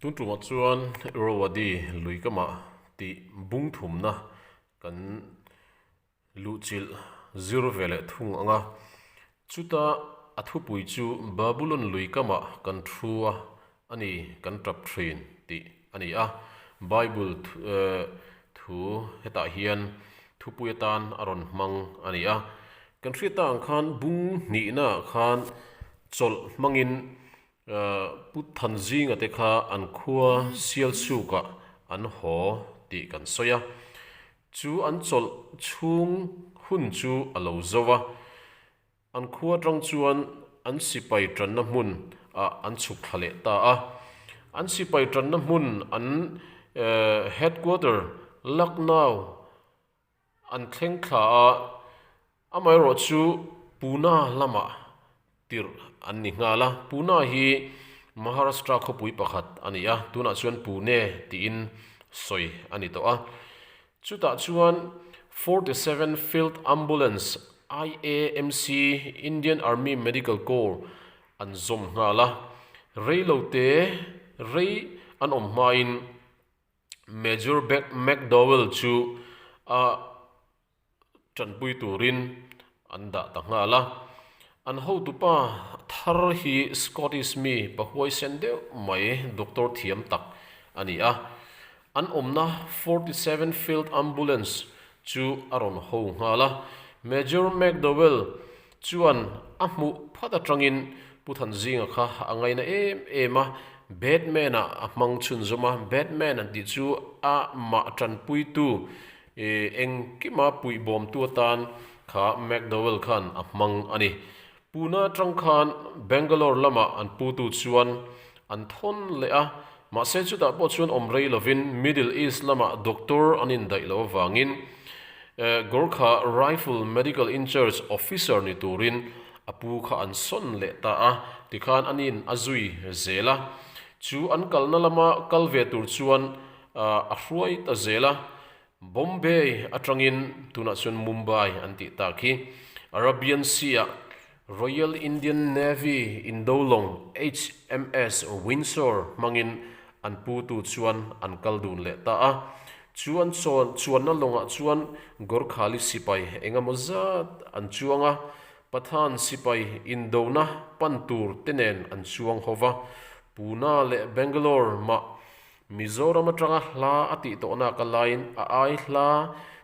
Tungtumah chuan Irrawaddy lui ka mah tih bungthumna kan luhchilh zir ve leh thung ang a. Chuta a thupui chu Babulon lui ka mah kan thu a, a ni kan tap thin tih a ni a. Bible thu hetah hian thupui atan a rawn hmang a ni a. Kan hriat ta ang khan bung hnihna ah khan chawlh hmangin Pu Than Zinga te kha an khua sialsuk ah an haw tih kan sawi a, chu an chawlh chhung hun chu a lo zo a, an khua atang chuan an sipai tanna hmun ah an chhuk thla leh ta a, an sipai tanna hmun an Headquarter Lucknow an thleng thla a, amaherawh chu Puna lamah tirh an ni nghal a. Puna hi Maharashtra khawpui pakhat a ni a, tunah chuan Pune tiin sawi a ni tawh a. Chutah chuan forty seven Field Ambulance, IAMC, Indian Army Medical Corps an zawm nghal a, rei lo te rei an awm hmain Major Beck McDowell chu a tanpui turin an dah ta nghal a. An hotupa thar hi Scottish mi pahuaisen deuh mai doctor thiam tak a ni a. An awmna forty seven Field Ambulance chu a rawn ho nghal a. Major McDowell Chuan a hmuh phat atangin Pu Thanzinga kha a ngaina em em a, Batman-a a hmang chhun zawm a, Batman an tih chu a mah tanpuitu eh engkima puih bawmtu atan kha McDowell khan a hmang a ni. Puna atang khan Bangalore lamah an putu chuan an thawn leh a, mahse chutah pawh chuan awm rei lovin Middle East lamah doctor an indaih loh avangin Gorkha Rifle Medical Incharge Officer ni turin a pu kha an sawn leh ta a tikhan a nin a zui zel a, chu an kalna lama kal ve tur chuan a hruai ta zel a. Bombay atangin tunah chuan Mumbai an tih tak hi Arabian Sea ah Royal Indian Navy Indolong HMS Windsor hmangin an putu chuan an kal dun leh ta a. Chuan chawn chuanna lawngah chuan Gorkhali sipai engemaw zat an chuang a, Pathan sipai indona pan tur te nen an chuang ho va. Puna leh Bangalore mah Mizoram atanga hla a tih tawh nak a laiin a ai hla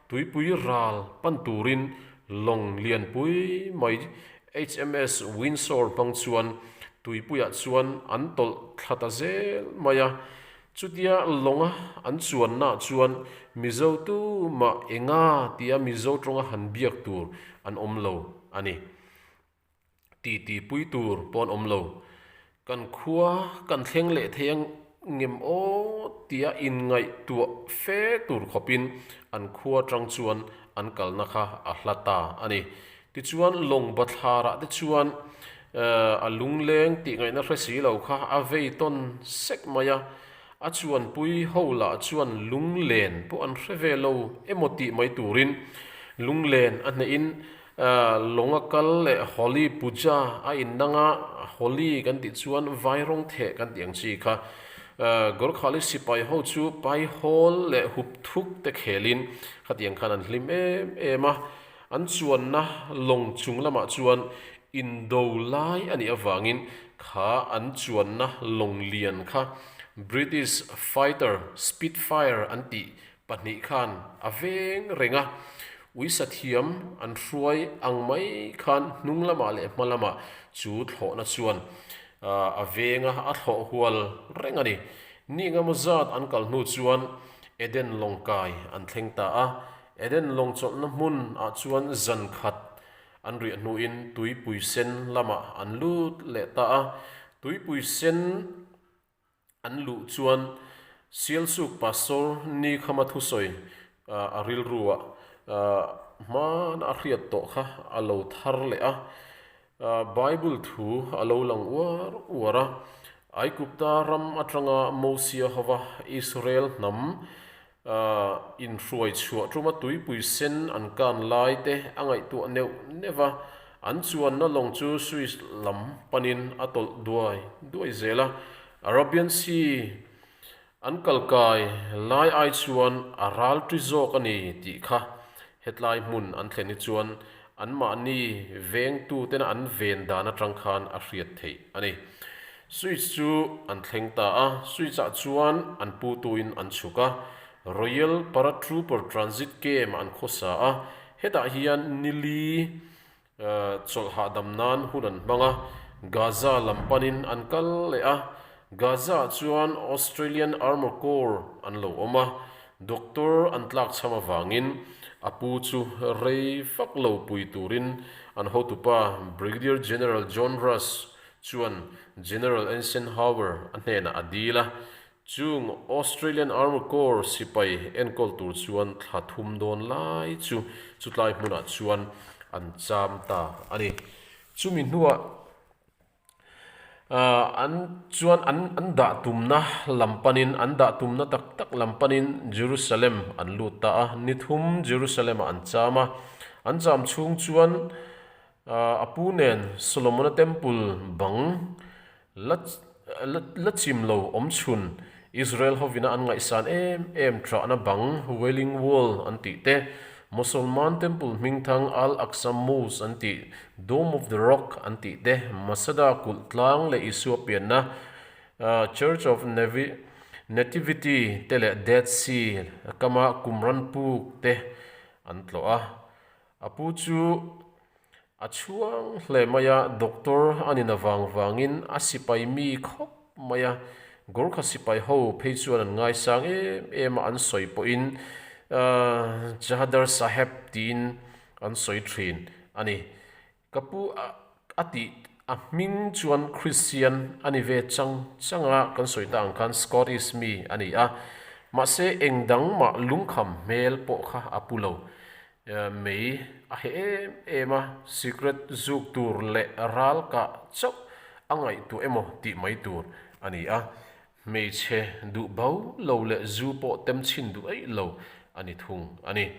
tuipui ral pan turin lawng lian pui mai HMS Windsor hmang chuan tuipuiah chuan an tawlh thla ta zel mai a. Chutia lawnga an chuan nah chuan Mizo tu mah enga tia Mizo tawnga han biak tur an awm lo a ni. titi pui tur pawh an awm lo. Kan khua kan thleng leh thei a ngem aw tia inngaihtuah fe tur khawpin an khua atang chuan an kalna kha a hla ta a ni. Tichuan Lawngbathlârah te chuan a lungleng tih ngaihna hre si lo kha a vei tawn sek mai a, a chuanpui ho lah chuan lunglen pawh an hre ve lo emaw tih mai turin lunglen a hnehin Lawng a kal leh Holi Puja a innang a, Holi kan tih chuan vai rawng theh kan tih ang chi kha. Gorkhali sipai ho chu pai hawl leh hup thuk te khelin khatiang khan an hlim em em a. An chuanna lawng chung lamah chuan Indo lai a nih avangin kha an chuanna lawng lian kha British Fighter Spitfire an tih Pahnih khan a veng reng a, uisa thiam an hruai ang mai khan hnung lamah leh hma lamah chu thlawhna chuan a veng a, a thlawh hual reng a ni. Ni engemaw zat an kal hnu chuan Eden lawng kai an thleng ta a, Eden lawng chawlhna hmun ah chuan zan khat an riah hnuin tuipui sen lamah an lut leh ta a, tuipui sen. an luh chuan Sialsuk Pastor Nikhama thusawi a rilruah hmana a hriat tawh kha a lo thar leh a, Bible thu a lo lang uar uar a. Aigupta ram atanga Mosia hova Israel hnam A inhruai chhuah tuma tuipui sen an kan lai te a ngaihtuah neuh neuh a, an chuanna lawng chu Swiss lam panin a tawlh duai duai zel a. Arabian Sea an kal kai lai ai chuan a ral ṭi zawk a ni tih kha hetlai hmun an thlen hi chuan Anmahni vengtuten an ven dan atang khan a hriat theih a ni. Switch chu an thleng ta a, Switch ah chuan an pu tu in an chhuk a, Royal Paratrooper Transit Camp an khaw sa a, hetah hian nili chawlh hahdam nan hun an hmang a, Gaza lam pan in an kal leh a, Gaza ah chuan Australian Armour Corps an lo awm a, Doctor an tlak chham avangin a pu chu rei fak lo pui turin an hotupa Brigadier General John Russ chuan General Eisenhower a hnenah a dil a, chung Australian Armed Corps sipai enkawl tur chuan thla thum dawn lai chu chutlai hmunah chuan an cham ta a ni. Chumi hnuah. An chuan an an dah tumna lam panin, an dah tumna tak tak lam panin Jerusalem an lut ta a, ni thum Jerusalem-ah an cham a. An cham chhung chuan a pu nen Solomona Temple bang la la la chim lo awm chhun, Israel hovina an ngaihsan em em trahna bang Wailing Wall an tih te, Mosolman temple hmingthang Al-Aqsa Mosque an tih, Dome of the Rock an tih te, Masada kulh tlang leh Isua pianna, Church of Nativity te leh Dead Sea, Kama Qumran Puk te an tlawh a. A pu chu a chhuang hle mai a, doctor a nin avang vangin a sipai mi khawp mai a, Gorkha sipai ho phei chuan an ngaisang em em a an sawi pawhin Chahadar Saheb tiin an sawi thin a ni. Ka pu a a tih a hming chuan Christian a ni ve chang chang a, kan sawi ta ang khan Scottish mi a ni a, mahse eng dang mah lungkham hmel pawh kha a pu lo mai a heh em em a, secret zuk tur leh ralkah chauh a ngaihtuah emaw tih mai tur a ni a. Hmeichhe duh bo lo leh zu pawh temchin duh eih lo a ni thung a ni.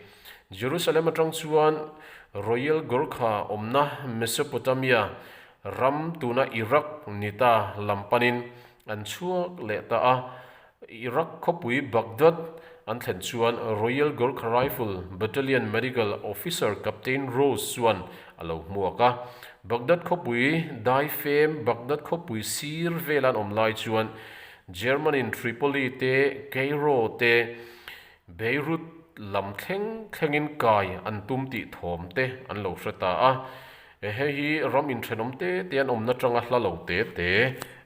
Jerusalem atang chuan Royal Gorkha awmna Mesopotamia ram tuna Iraq nita lam panin an chhuak leh ta a. Iraq khawpui Baghdad an thlen chuan Royal Gorkha Rifle Battalion Medical Officer Captain Rose chuan a lo hmuak a. Baghdad khawpui dai fêm Baghdad khawpui sîr vêla an awm lai chuan Germany-n Tripoli te Cairo te Beirut lam thleng thlengin kai an tum tih thâwm te an lo hre ta a. Hei hi ram inṭhenawm tê te an awmna ṭanga hla lo tê te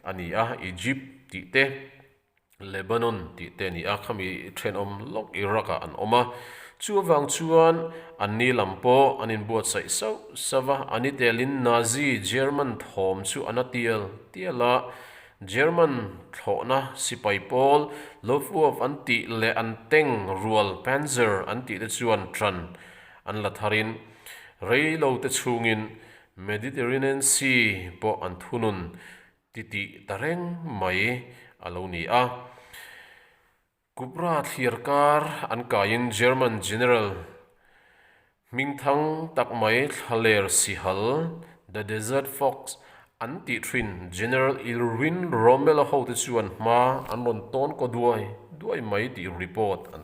a ni a, Egypt tih te. Lebanon tih te a ni a, khami thenawm lawk Iraq-ah an awm a, chu avang chuan an ni lam pawh an inbuatsaih sauh sauh a, a ni telin Nazi German thawm chu a na tial tial a, German thlawhna sipai pawl Luftwaffe an tih leh an teng rual Panzer an tih te chuan ṭan an la thar in, rei lo te chungin Mediterranean Sea pawh an thunun titih ta reng mai a lo ni a. Kubra thliar kar an kaiin German General hming thang tak mai Thlaler Sihal, The Desert Fox, an tih thin General Irwin Rommel-a hote chuan hma an rawn tawn kaw duai duai mai tih report an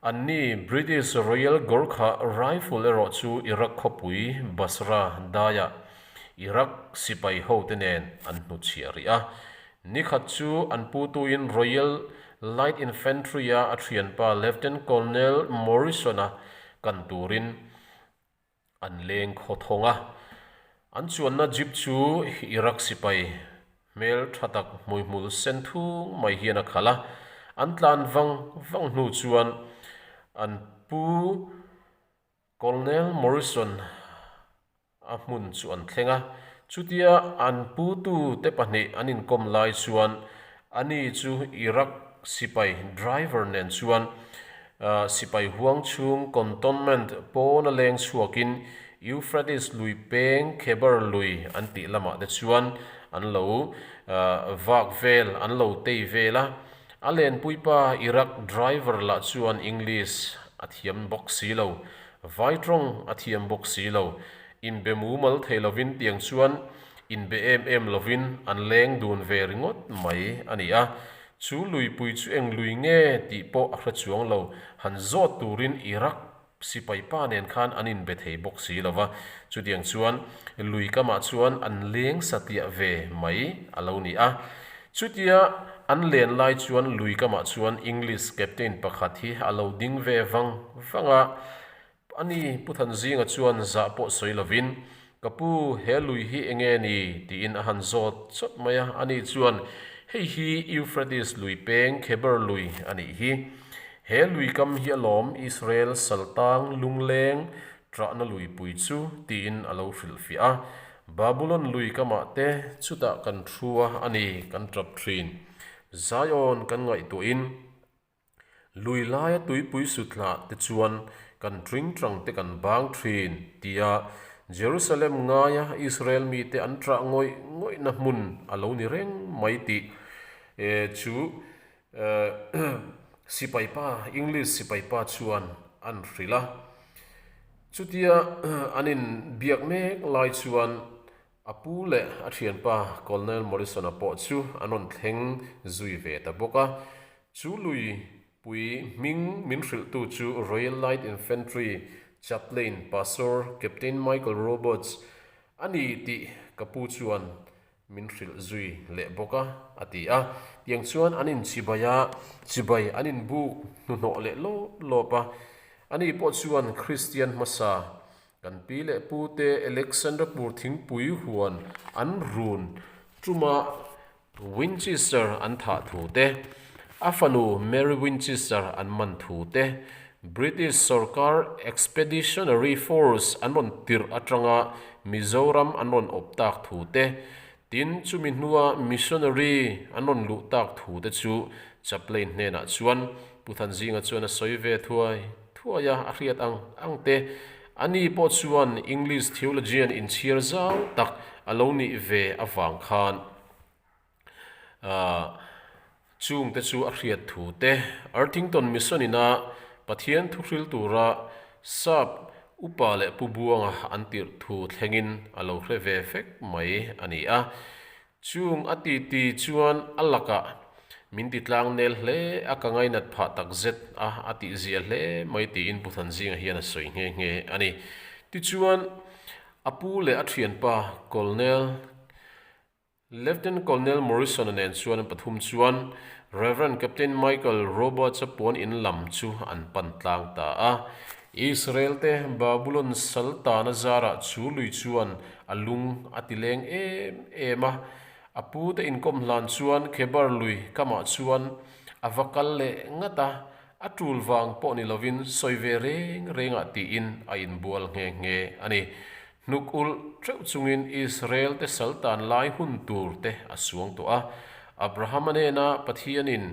An ni British Royal Gorkha Rifle erawh chu Iraq khawpui Basra daia Iraq sipai hote nen an hnu chhiah rih a. Ni khat chu an pu tuin Royal Light Infantry-a a thianpa Lieutenant Colonel Morrison-a kan turin An leng khaw thawng a. An chuanna jeep chu Iraq sipai hmel tha tak hmuihmul sen thung mai hian a khalh a. An tlan vang vang hnu chuan an pu Colonel Morrison a hmun chu an thleng a. Chutia an pu tu te pahnih an inkawm lai chuan Ani chu Iraq sipai driver nen chuan sipai huang chhung cantonment pawn a leng chhuakin Euphrates lui peng Khebar lui an tih lamah te chuan an lo vak vel, an lo tei vel a. A lenpuipa Iraq driver lah chuan English a thiam bawk si lo, vai tawng a thiam bawk si lo. Inbe mumal thei lovin tiang chuan in be em em lovin an leng dun ve ringawt mai a ni a. Chu luipui chu eng lui nge tih pawh a hre chuang lo, han zawt turin Iraq sipai pa nen khan an inbe thei bawk si lo va, chutiang chuan lui kamah chuan an leng satiah ve mai a lo ni a. Chutia an len lai chuan lui kamah chuan English captain pakhat hi a lo ding ve vang vang a, A ni, Pu Thanzinga chuan zah pawh sawi lovin, Ka pu, he lui hi eng nge ni? tiin a han zawt chawt mai a. A ni chuan, Hei hi Euphrates lui peng Kheber lui a nih hi. He lui kam hi a lawm Israel saltang lungleng trahna lui pui chu, tiin a lo hrilhfiah a. Babulon lui kamah te chutah kan hrua a ni kan tap thin. Zion kan ngaihtuahin. Lui laia tuipui suthlah te chuan kan ṭingṭang te kan bang ṭhin, tia Jerusalem ngaia Israel mite an ṭah ngawih ngawihna hmun a lo ni reng mai tih chu sipaipa, English sipaipa chuan an hrilh a. Chutia an inbiak mek lai chuan A pu leh a thianpa Colonel Morrison-a pawh chu a nawn thleng zui ve ta bawk a. Chu lui pui hming min hrilhtu chu Royal Light Infantry Chaplain Pastor Captain Michael Roberts a ni tih ka pu chuan min hrilh zui leh bawk a, a ti a. Tiang chuan an inchibai a, chibai an inbuk hnuhnawh leh lawp lawp a. Ani pawh chuan Kristian hmasa Kan pi leh pu te Alexandrapur thingpui huan an run tuma Winchester an thah thu te, a fanu Mary Winchester an man thu te, British sawrkar Expeditionary Force an rawn tirh atanga Mizoram an rawn awp tak thu te, Tin, chumi hnua missionary an rawn luh tak thu te chu Chaplane hnenah chuan Pu Thanzinga chuan a sawi ve thuai thuai a, a hriat ang ang te. Ani pawh chuan English theologian inchhiar zau tak a lo nih ve avang khan, aah, Chung te chu a hriat thu te. Arthington Mission in a Pathian thuhril tura Sap upa leh pu buanga an tirh thu thlengin a lo hre ve fek mai a ni a. Chung a titi chuan a laka min titlang nel hle a ka ngainat phah takzet a a tih zia hle mai tiin Pu Thanzinga hian a sawi nghe nghe a ni. Tichuan a pu leh a thianpa Colonel. Lieutenant Colonel Morrison-a nen chuan an pathum chuan Rev. Captain Michael Roberts-a puan in lam chu an pan tlang ta a. Israel te Babulon sal tana zarah chu lui chuan a lung a ti leng em em a. A pu te inkawm hlan chuan Khebar lui kamah chuan a va kal leh ngat a, a tul vang pawh ni lovin sawi ve reng reng ah tiin a inbual nghe nghe a ni. Hnuk ulh ṭeuh chungin Israelte sal tan lai hun tur te a suang tawh a. Abrahama nena Pathianin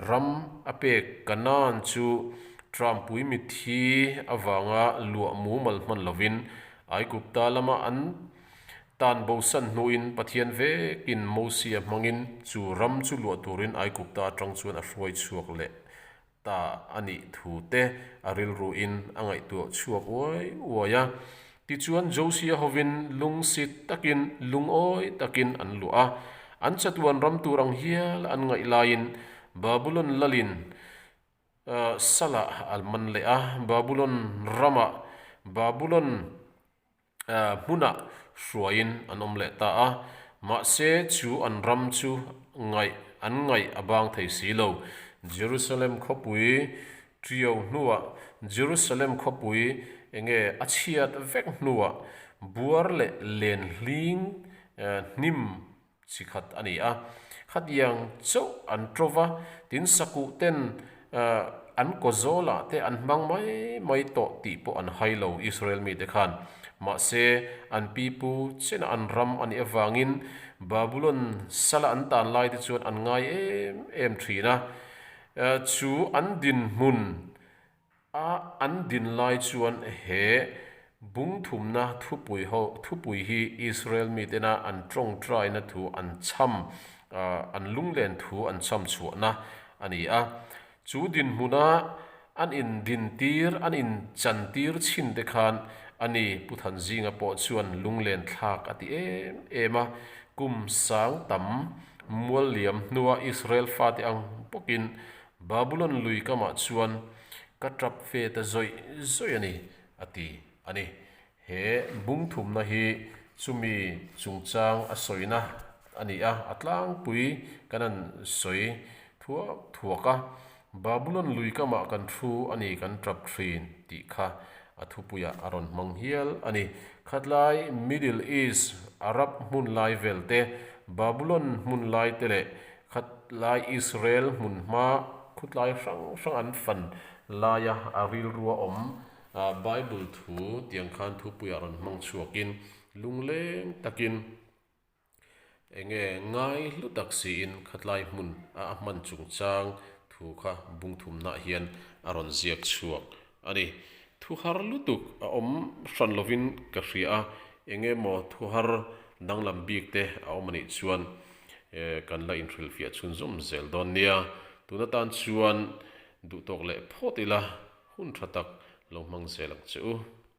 ram a pek Canaan chu ṭanpui mithi avanga luah mumal hman lovin Aigupta lama an tan bosan hnuin Pathian vekin Mosia hmangin chu ram chu luah turin Aigupta aṭang chuan a hruai chhuak leh ta a nih thu te a rilru in a ngaihtuah chhuak uai uai a. Tichuan Josia hovin lung sit takin, lungawi takin an luah a. An chatuan ram tur ang hial an ngaih laiin Babulon lal in Salah a man leh a. Babulon ramah Babulon. hmunah hruaiin an awm leh ta a, mahse chu an ram chu ngaih an ngaih a bang thei si lo. Jerusalem khawpui ṭio hnuah, Jerusalem khawpui eng nge a chhiat vek hnuah buar leh len hling hnim, chi khat a ni a, khatiang chauh an ṭo va, tin sakuh ten an kaw zawlah te an hmang mai mai tawh tih pawh an hai lo Israel mite khan. Mahse, an pi pu chin a an ram a nih avangin Babulon sal a an tan lai te chuan an ngai em em ṭhin a, chu an dinhmun A an din lai chuan he bungthumna thupui ho thupui hi Israel mi tena an tawngtaina thu an cham an lunglen thu an cham chhuahna a ni a. Chu dinhmuna an in din tir an in chan tir chin te khan a ni. Pu Thanzinga pawh chuan lunglen thlak a ti em em a, kum sang tam mual liam hnua Israel fate ang bawkin Babulon lui kamah chuan ka tap fe ta zawih zawih a ni, a ti a ni. He bungthumna hi chumi chungchang a sawina a ni a, a tlangpui ka rawn sawi thuak thuak a. Babulon lui kamah kan thu a ni kan tap thin tih kha a thupuia a rawn hmang hial a ni. Khatlai Middle East, Arab hmun lai vel te, Babulon hmun lai te leh Khat lai Israel hmun hma khutlai hrang hrang an fan lai a, a rilru a awm. Bible thu tiang khan thupuiah rawn hmang chhuak in lungleng takin eng nge ngai hlu tak siin khatlai hmun a a hman chungchang thu kha bungthumnah hian a rawn ziak chhuak A ni. Thu har lutuk a awm hran lovin ka hria a, eng nge maw thu har danglam bik te a awm a nih chuan kan la inhrilhfiah chhun zawm zel dawn nia. Tun atan chuan duhtawk leh phawt ila hun tha tak lo hmang zel ang che u.